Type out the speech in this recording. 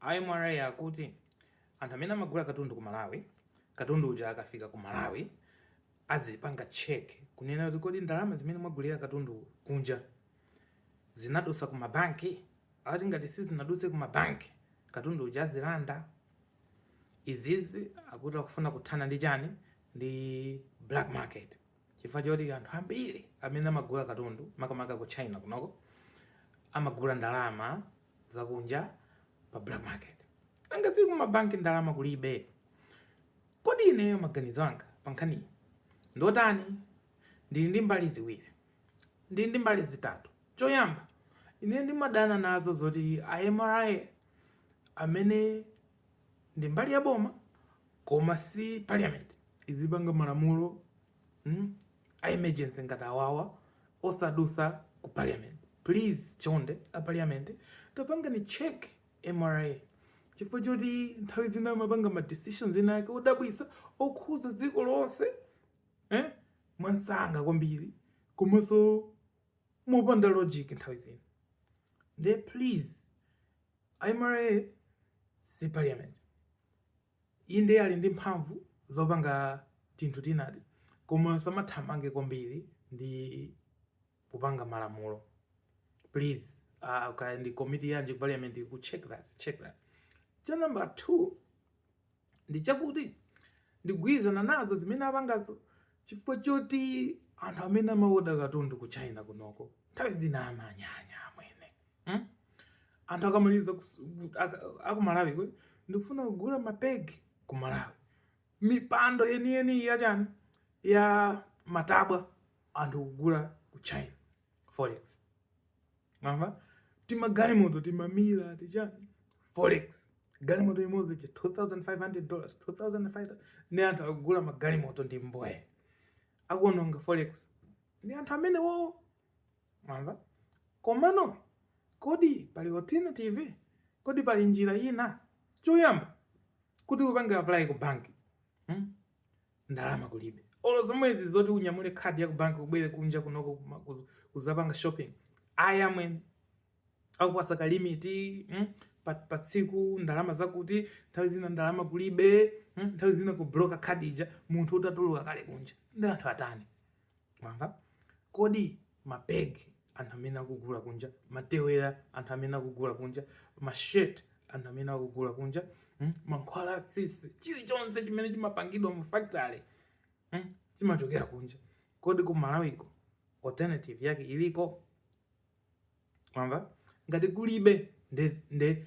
A MRA akuti anthu amene amagula katundu ku Malawi, katundu uja akafika ku Malawi azipanga check kunena kuti kodi ndalama zimene mwagulira katundu kunja zinadusa ku mabanki? Akuti ngati sizinaduse ku mabanki, katundu uja azilanda. Izizi akuti akufuna kuthana ndi chani? Ndi black market. chifukwa choti anthu ambiri amene amagula katundu makamaka ku china kunoko amagula ndalama zakunja pa black market nanga si ku mabanki ndalama kulibe kodi ineyo maganizo anga pa nkhaniyi ndi otani ndili ndi mbali ziwiri ndili ndi mbali zitatu choyamba ine ndimadana nazo zoti a MRA amene ndi mbali ya boma koma si parliament izipanga malamulo mm, a emergency ngati awawa osadusa ku parliament please chonde a parliament tapangani check MRA chifukwa choti nthawi zina amapanga ma decisions enaake odabwitsa okhuza dziko lonse eh? mwamsanga kwambiri komanso mopanda logic nthawi zina nde please A MRA si parliament. Inde ali ndi mphamvu zopanga tinthu tinati koma samathamange kwambiri ndi kupanga malamulo please uh, ndi komiti yanji ku parliament check that check that cha number 2 ndi chakuti ndigwirizana nazo zimene apangazo chifukwa choti anthu amene amaoda katundu ku China kunoko nthawi zina amanyanya amwene hmm? anthu akamaliza aku Malawi kwe ndikufuna kugula mapegi ku Malawi mipando yeniyeni yachani ya matabwa anthu kugula ku China forex mwamva timagalimoto timamila tichani forex galimoto imodzi cha 2500 dollars 2500 nde anthu akugula magalimoto ndi mboya akuononga forex ndi anthu amenewowo mwamva komano kodi pali alternative kodi pali njira ina choyamba kuti upange apply ku banki hmm? ndalama kulibe olo zomwezi zoti unyamule khadi ya kubanki ubwere kunja kunoko kuma- kuz- kuzapanga shopping ayi amwene akupatsa ka limiti mm? pa, pa tsiku ndalama zakuti nthawi zina ndalama kulibe mm? nthawi zina kubloka khadi ija munthu utatuluka kale kunja nde anthu atani mwamva kodi mapegi anthu amene akugula kunja matewera anthu amene akugula kunja mashirt anthu amene akugula kunja hmm? mankhwala atsitsi chilichonse chimene chimapangidwa mu factory hmm? chimachokera kunja kodi ku Malawiko alternative yake iliko mwamva ngati kulibe nde, nde